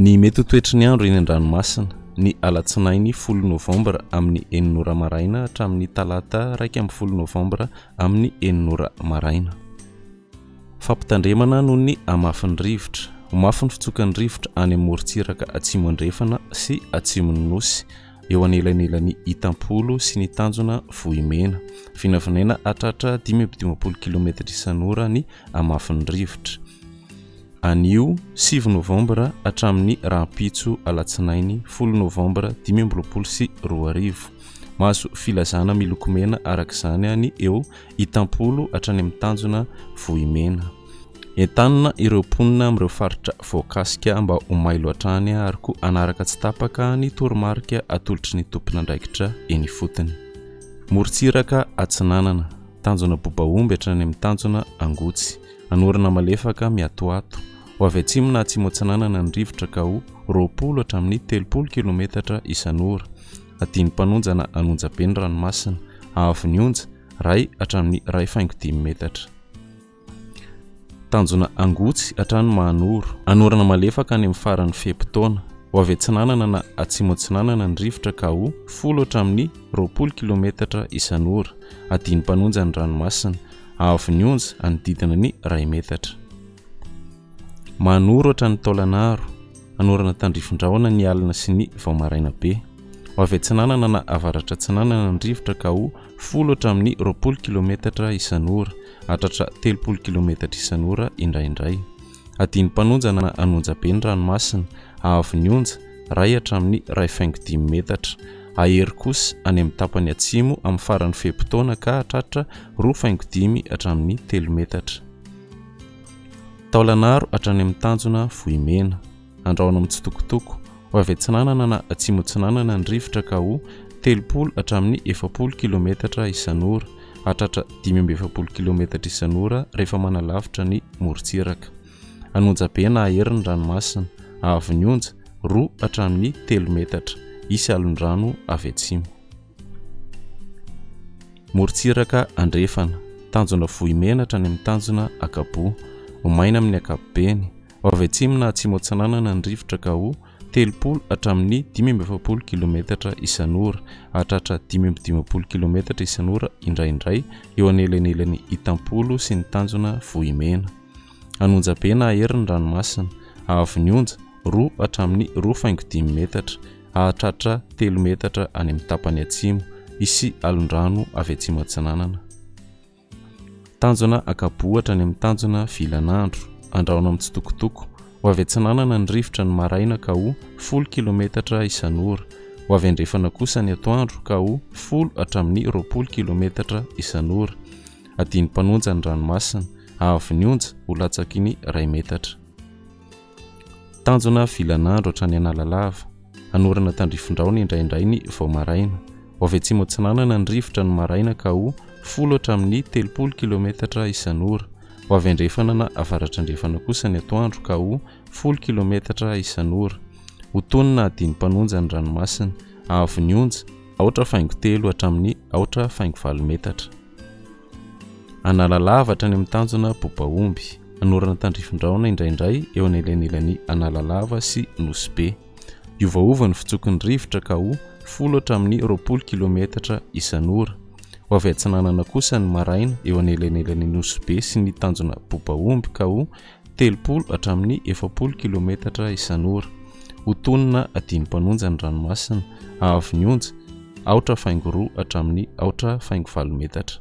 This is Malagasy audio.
Ny mety ho toetry ny andro eny an-dranomasina, ny alatsinainy folo novambra amin'ny enina ora maraina hatramin'ny talata iraika ambin'ny folo novambra amin'ny enina ora maraina. Fampitandremana noho ny hamafin'ny rivotra. Ho mafy ny fitsokan'ny rivotra any amin'ny morontsiraka atsimo andrefana sy atsimon'ny Nosy eo anelanelan'i Itampolo sy ny tanjona Vohimena. Vinavinaina hatratra dimy amby dimampolo kilometatra isan'ora ny hamafin'ny rivotra, anio sivy novambra hatramin'ny rahampitso alatsinainy folo novambra dimy amby roapolo sy roa arivo. Mahazo filazana miloko mena araka izany ny eo Itampolo hatrany amin'ny tanjona Vohimena. Entanina ireo mponina amin'ireo faritra voakasika mba ho mailo hatrany ary koa hanaraka tsy tapaka ny toromarika atolotry ny tompon'andraikitra eny ifotony. Morontsiraka Atsinanana. Tanjona Bobaomby hatrany amin'ny tanjona Angotsy. Anorana malefaka miatoato. Ho avy atsimo na atsimo-atsinanana ny rivotra ka ho roapolo hatramin'ny telopolo kilometatra isan'ora. Adin'ny mpanonjana an'onjabe ny ranomasina, haavon'ny onja, ray hatramin'ny iray faingo dimy metatra. Tanjona angotsy hatrany Mahanoro. Anorana malefaka any amin'ny faran'ny fe-potoana. Ho avy atsinanana na atsimo-atsinanana ny rivotra ka ho, folo hatramin'ny roapolo kilometatra isan'ora. Adin'ny mpanonja ny ranomasina, haavon'ny onja, anodidina ny iray metatra. Manoratra ny taolan'aro, anorana tandrifin-drahona ny alina sy ny vao maraina be. Ho avy atsinanana na avaratra-atsinanana ny rivotra ka ho folo hatramin'ny roapolo kilometatra isan'ora, hatratra telopolo kilometatra isan'ora indraindray. Adino mpanonja na anonja be ny ranomasina, haavo ny onja, iray hatramin'ny iray faingo dimy metatra. Hahery kosa any amin'ny tapany atsimo amin'ny faran'ny fe-potoana ka hahatratra roa faingo dimy hatramin'ny telo metatra. Taolanaro hatrany amin'ny tanjona Vohimena. Andrahona mitsitokotoko. Ho avy atsinanana na atsimo-atsinanana ny rivotra ka ho telopolo hatramin'ny efapolo kilaometatra isan'ora. Hahatratra dimy amby efapolo kilaometatra isan'ora rehefa manalavitra ny morontsiraka. An'onja be na ahery ny ranomasina. Ahavon'ny onja, roa hatramin'ny telo metatra. Hisy alondrano avy atsimo. Morontsiraka andrefana, tanjona Vohimenatra any amin'ny tanjona Akaboa, Omaina amin'ny ankapobeny, ao avy atsimo na atsimo-atsinanana ny rivotra ka ho, telopolo hatramin'ny dimy amby efapolo kilometatra isan'ora, hahatratra dimy amby dimampolo kilometatra isan'ora indraindray eo anelanelan'i Itampolo sy ny tanjona Vohimena. An'onja be na hery ny ranomasina. Ahavon'ny onja, roa hatramin'ny roa faingo dimy metatra. Hahatratra telo metatra any amin'ny tapany atsimo. Hisy alondrano avy atsimo-atsinanana. Tanjona Akabohatra any amin'ny tanjona Vilanandro. Andrahoina amin'ny tsitokotoko. Ho avy atsinanana ny rivotra ny maraina ka ho folo kilometatra isan'ora. Ho avy andrefana kosa ny atoandro ka ho folo hatramin'ny roapolo kilometatra isan'ora. Adin'ny mpanonja ny ranomasina, avy ny onja ho latsaky ny iray metatra. Tanjona vilan'andro hatrany Analalava, hanorina tandrifindraony indraindray ny vao maraina. Ho avy atsimo atsinanana ny rivotra ny maraina ka ho folo hatramin'ny telopolo kilometatra isan'ora. Ho avy andrefana na avaratrandrefana kosa ny atoandro ka ho folo kilometatra isan'ora. Ho tonina adin'ny mpanonja ny ranomasina, avy ny onja, aotra faingo telo hatramin'ny aotra faingo valo metatra. Analalava hatrany amin'ny tanjona Bobaomby. Anorana tandrifindraona indraindray eo anelanelan'i Analalava sy Nosy Be. Hiovaova ny fitsoky ny rivotra ka ho folo hatramin'ny roapolo kilometatra isan'ora. Ho avy atsinanana kosa ny maraina eo anelanelan'i Nosy Be sy ny tanjona Bobaomby ka ho telopolo hatramin'ny efapolo kilometatra isan'ora. Ho tonina adino mpanonja ny ranomasina avo ny onja, aotra faingo roa hatramin'ny aotra faingo valo metatra.